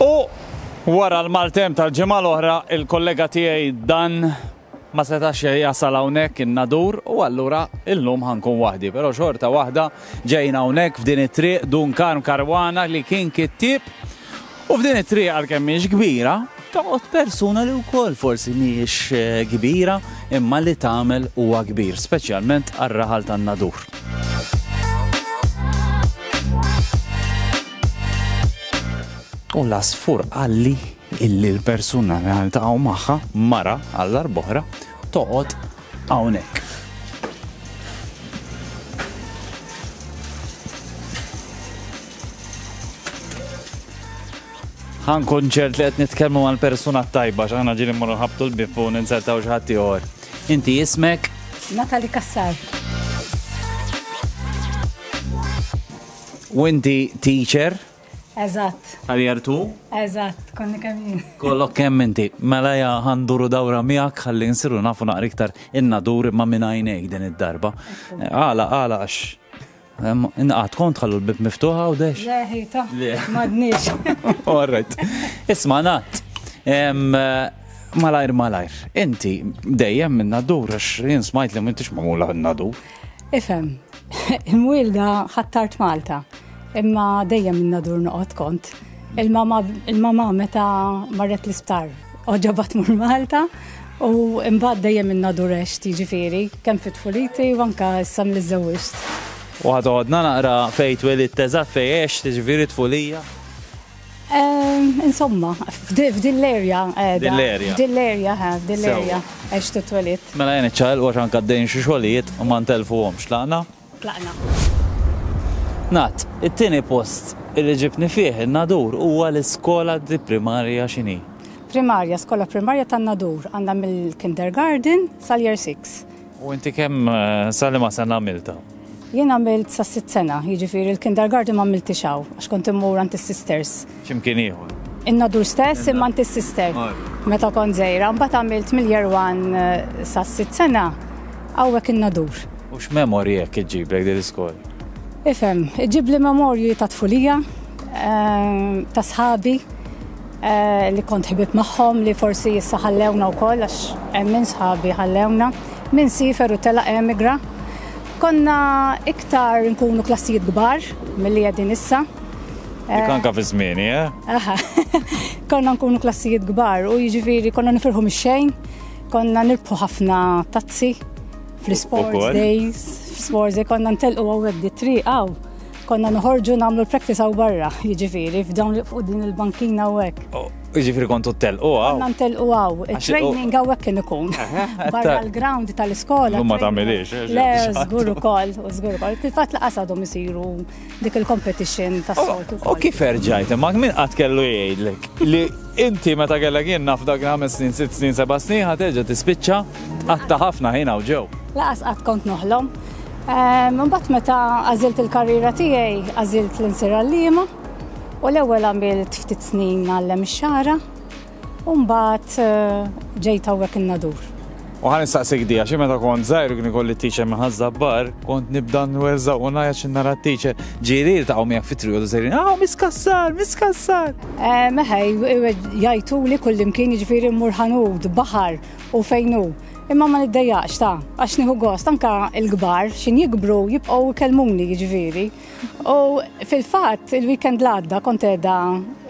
U wara l-maltemp tal-ġimgħa l-oħra, il-kollega tiegħi Dan ma setax jasal hawnhekk in-nadur u allura illum ħankun waħdi, però xorta waħda ġejna hawnhekk f'din it-triq Dun Karm Karwana li kien kittieb. U f'din it-triq għalkemm mhix kbira, Toqgħod persuna li wkoll forsi mhijiex kbira imma li tagħmel huwa kbir, speċjalment għar-raħal tan-nadur. U l-għasfur qalli illi l-persuna li għaltaqgħu magħha mara għall-arbohra toqgħod hawnhekk. Ħa nkun ċert li qed nitkellmu mal persuna t-tajba x'aħna ġieli mmorru nħabtu l-bib u ninzertaw xi ħadd ieħor. Inti ismek? Natalie Cassar. U inti teacher? Eżatt. Għaljar tu? Eżatt, konni kemm jien. Kollok kemm inti. Mela ja għanduru dawra miegħek ħalli nsiru nafu naqra iktar inna dur imma minn għajnejk din id-darba. Għala, għala għax Inqat kont ħallu l-bib miftuħ għawdex? Le, ħita, madnix. All right. Isma, nat. Malajr, malajr. Inti dejjem minn nadur, għax jien smajt li mintix mamula nadur. Ifem, imwilda ħattart Malta, imma dejjem minn nadur noqot kont. Il-mama meta marret l-isptar, oġobat mur Malta u imbagħad dejjem minna durex tiġifieri, kemm fit-tfuliti u anka issa li żewwiġt. U ħad għodna naqra fejn twelidt eżatt fejn għex tiġifieri tfulija? Insomma, f'din l-erja. Din l-erja. Din l-erja, ha, din l-erja għex titwelidt. Mela jien iċċaqilqu għax anka għaddejjin xi xogħlijiet u ma ntelfuhomx. Tlaqna? tlaqna. Ngħad, it-tieni post li ġibni fih in-Nadur huwa l-iskola di primarja x'inhi? Primarja, skola primarja tan-Nadur, għandha mill-kindergarten sal-year six. U inti kemm sa liema sena għamiltha? Jien għamilt sas-sitt sena, jiġifieri l-kindergarten m'għamiltiex hawn għax kont immur għand is-sisters. x'imkien ieħor. In-nadur stess imma int is-sister. Meta kont żgħira, mbagħad għamilt mill-year one sas-sitt sena hawnhekk in-nadur. U x'memorji hekk iġġiblek din l-iskola? Ifhem, iġġibli memorji ta' tfulija, ta' sħabi li kont ħbieb magħhom li forsi issa ħallewna wkoll għax hemm min sħabi ħallewna, min siefer u telaq emigra. Konna iktar nkunu klassijiet kbar milli qegħdin issa. Dik anka fi żmieni, eh? Aha. Konna nkunu klassijiet kbar u jiġifieri konna nifirħu mix-xejn, konna nirbħu ħafna tazzi fl-sports days, fl-sports days konna ntelqu għawek di tri għaw. Konna nħorġu namlu l-practice għaw barra, jiġifieri, f'dawn li fuq din il-bankina għawek. Oh, jiġifieri kontu telqu għaw. Konna ntelqu għaw, training għawek kien ikun. Barra l-ground tal-iskola. Ma tamilix. Eh, le, zgur ukoll, zgur ukoll. Fil-fat laqas għadhom isiru dik il-competition ta' soltu. U kif erġajt, ma' min qatt kellu jgħidlek li inti meta kellek jien naf dak ħames snin, sitt snin, seba' snin ħad terġa' tispiċċa tqatta' ħafna ħin hawn ġew. Laqas qatt kont noħlom. Ehm, imbagħad meta għażilt il-karriera tiegħi, għażilt l-insir għalliema u l-ewwel għamilt ftit snin għallem ix-xara U mbagħad ġejt hawnhekk in-nadur. U ħan nistaqsik dija, xi meta kont żgħir kien ikolli t-teacher minn ħażabbar, kont nibda nwerża u ngħajja xi nara t-teacher ġieli jiltaqgħu miegħek fit-trio ta' sejrin, ah, miskassar, miskassar. Eh, Meħej, jajtu li kullimkien jiġifieri mmur ħanud, baħar u fejnu. Imma ma niddejjaqx ta' għax nieħu gost anka l-kbar xin jikbru jibqgħu kelmuni jiġifieri. U fil-fatt il-weekend l-għadda kont qiegħda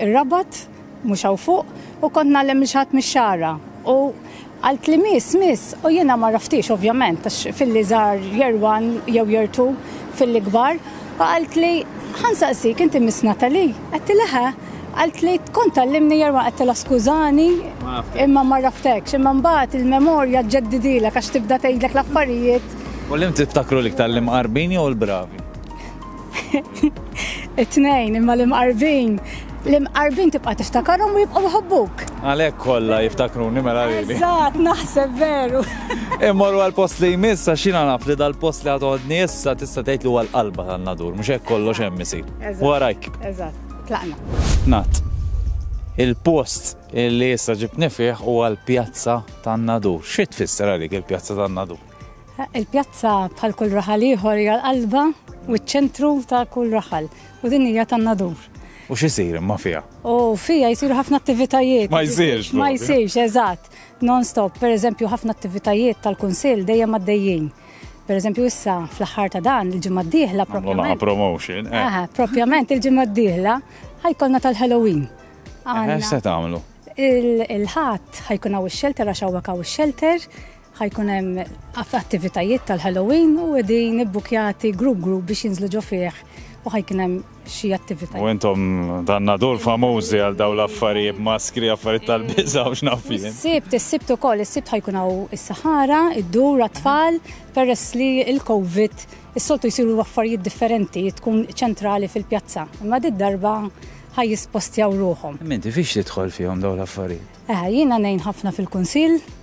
ir-rabat mhux hawn fuq, u kont ngħallem lil xi ħadd mix-Xagħra u qaltli Miss, Miss, u jiena m'għarraftiex ovvjament għax filli żgħar Year One jew Year Two, filli kbar, u qaltli Ħa nsaqsik, inti Miss Natalie? Għedtilha He. Qaltli Kont tgħallimni Year One, għedtilha Skużani, imma m'għarraftekx, imma mbagħad il-memorja ġġeddidilek għax tibda tgħidlek l-affarijiet. U li tiftakru l-iktar, l-imqarbin jew il-bravi? It-tnejn imma l-imqarbin. L-imqarbin tibqa' tiftakarhom u jibqgħu jħobbuk. Għalhekk kollha jiftakruni mela lili. Eżatt, naħseb veru. Immorru għal post li jmiss għax jiena naf li dal-post li għadodni issa tista' tgħid li huwa l-qalba tan-nadur, mhux hekk kollox hemm isir. Warajk. Eżatt, tlaqna. Nat. Il-post li issa ġibni fih huwa l-pjazza tan-nadur. Xi tfisser għalik il-pjazza tan-nadur? Il-pjazza bħal kull raħal ieħor hija l-qalba u ċ-ċentru ta' kull raħal u din hija tan-nadur. U x'isir imma fiha? U fiha jsiru ħafna attivitajiet. Ma jsirx. Ma jsirx, eżatt. Non-stop, per eżempju, ħafna attivitajiet tal-Kunsill dejjem għaddejjin. Per eżempju, issa fl-aħħar ta' dan il-ġimgħa d-dieħla propjament. promotion. Eh. Aha, propjament il-ġimgħa d-dieħla ħajkolna tal-Halloween. Eh, se tagħmlu? Il-ħadd ħajkun hawn ix-xelter għax hawnhekk hawn ix-xelter Ħa jkun hemm attivitajiet tal-Halloween u qegħdin ibbukjati group group biex jinżlu ġo fih u ħa jkun hemm xi attivitajiet. U intom dan nadur famużi għal dawn l-affarijiet maskri, affarijiet tal-biża' u x'naf jien. Is-Sibt, is-Sibt ukoll, is-Sibt ħa jkun hawn is-saħara, id-dur għat-tfal peress li l-Covid is-soltu jsiru affarijiet differenti, tkun ċentrali fil-pjazza, imma did-darba ħa jispostjaw ruħhom. Imma inti fiex tidħol fihom dawn l-affarijiet? Jiena ngħin ħafna fil-kunsill.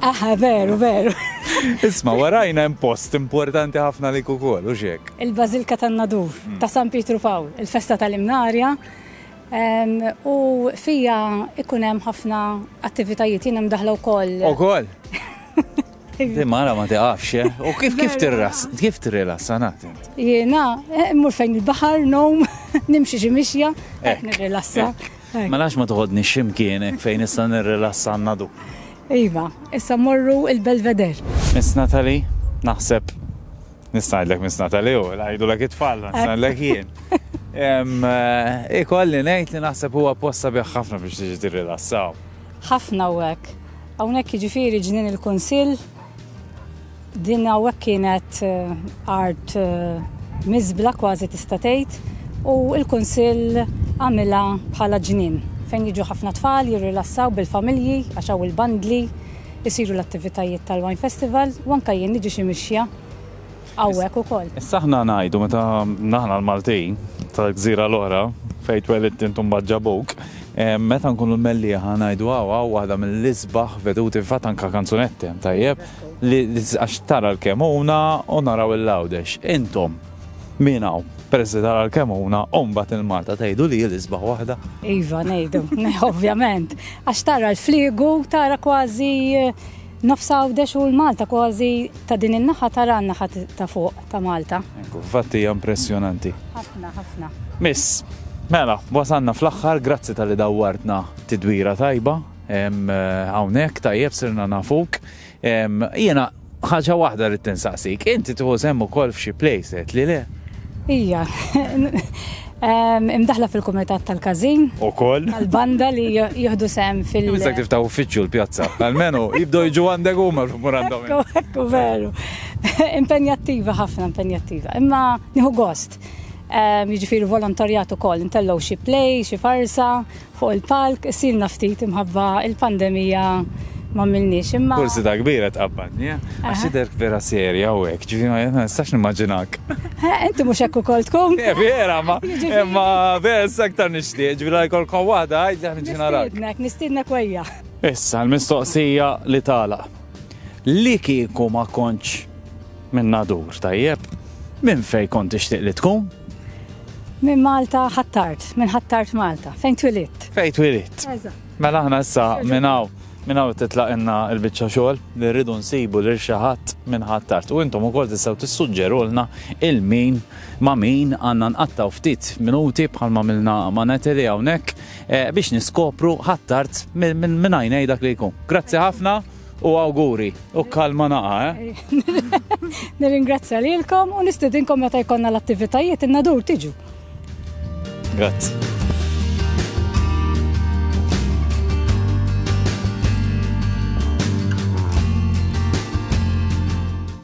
Aha, veru, veru. Isma, warajna hemm post importanti ħafna li kukol, u xek. Il-Bazilka tan-Nadur hmm. ta' San Pietru Pawl, il-festa tal-Imnarja, u fija ikun hemm ħafna attivitajiet jien hemm daħla wkoll. Ukoll. Di mara ma tiqafx, eh? u kif kif tirras, kif tirras, sanat. Jena, eh, mur fejn il-bahar, nom, nimxi xi mixja, eh, nirrilassa. Ma lax ma toħodni ximkienek fejn issa nirrilassa għannadu. Iva, issa mmorru il-Belvedere. Miss Natalie, naħseb nista' ngħidlek Miss Natalie u ngħidulek it-tfal, nista' ngħidlek jien. Ikolli ngħid li naħseb huwa post sabiħ ħafna biex tiġi tirrilassaw. Ħafna u hekk. Hawnhekk jiġifieri ġnien il-Kunsill. Din hawnhekk kienet art miżbla kważi tista' tgħid u l-Kunsill għamilha bħala ġnien fejn jiġu ħafna tfal jirrilassaw bil-familji għax hawn il-bandli, isiru l-attivitajiet tal-Wine Festival u anke jien niġi xi mixja hawnhekk ukoll. Issa aħna ngħidu meta aħna l-Maltin tal-gżira l-oħra fejn twelidt int u mbagħad ġabuk, meta nkunu l-Mellieħa ngħidu hawn hawn waħda mill-isbaħ veduti fil-fatt anke kanzunetti hemm tajjeb. li għax tara l-kemuna u naraw il-lawdex. Intom, min hawn? Peress li tara l-kemuna, u mbagħad il-Malta tgħidu li l-isbaħ waħda. Iva, ngħidu, ovvjament. Għax tara l-fliegu, tara kważi eh, nofs għawdex u l-Malta kważi ta' din in-naħa tara n-naħa ta' fuq ta' Malta. Fatti hija impressjonanti. Ħafna, ħafna. Miss, mela, wasanna fl-aħħar, grazzi tal-li dawwartna tidwira tajba. Hawnhekk tajjeb sirna nafuk. Jiena ħaġa waħda rrid tinsaqsik, inti tieħu sehem ukoll f'xi playset li le? Ija. Imdaħla fil-kumitat tal-każin. Ukoll. Tal-banda li jieħdu sehem fil-. Imissa kif ta' uffiċċju l-pjazza. Almenu jibdew jiġu għandek huma l-umur għandhom. Ekku veru. Impenjattiva ħafna, impenjattiva. Imma nieħu gost. Jiġifieri volontarjat ukoll, intellgħu xi play, xi farsa. Fuq il-palk qsilna ftit imħabba il-pandemija m'għamilniex imma. Forsi ta' kbir qed tqabbadni, eh? Għax tidher vera serja u hekk, ġifieri ma nistax nimmaġinak. Eh, inti mhux hekk ukoll tkun. Eh, vera, ma imma vera issa aktar nixtieq, ġifieri la jkollkom waħda għid li ħniġi narak. Nistiednek, nistiednek wejja. Issa l-mistoqsija li tagħlaq. Li kieku ma kontx Minn Nadur, tajjeb. Minn fejn kont tixtieq li tkun? Minn Malta Ħ'Attard, minn Ħ'Attard Malta, fejn twilidt. Fejn twilidt. Eżatt. Mela aħna issa minn hawn minn hawn titlaqilna l-biċċa xogħol li rridu nsibu lil xi ħadd minn Ħ'Attard u intom ukoll tistgħu tissuġġerulna il min ma' min għandna nqattgħu ftit minuti bħal ma' għamilna ma' Natalie hawnhekk biex niskopru Ħ'Attard minn għajnej dak li jkun. Grazzi ħafna. u awguri u kalma naqa, eh? Nirringrazzja lilkom u nistidinkom meta jkollna l-attivitajiet in-nadur tiġu. Grazzi.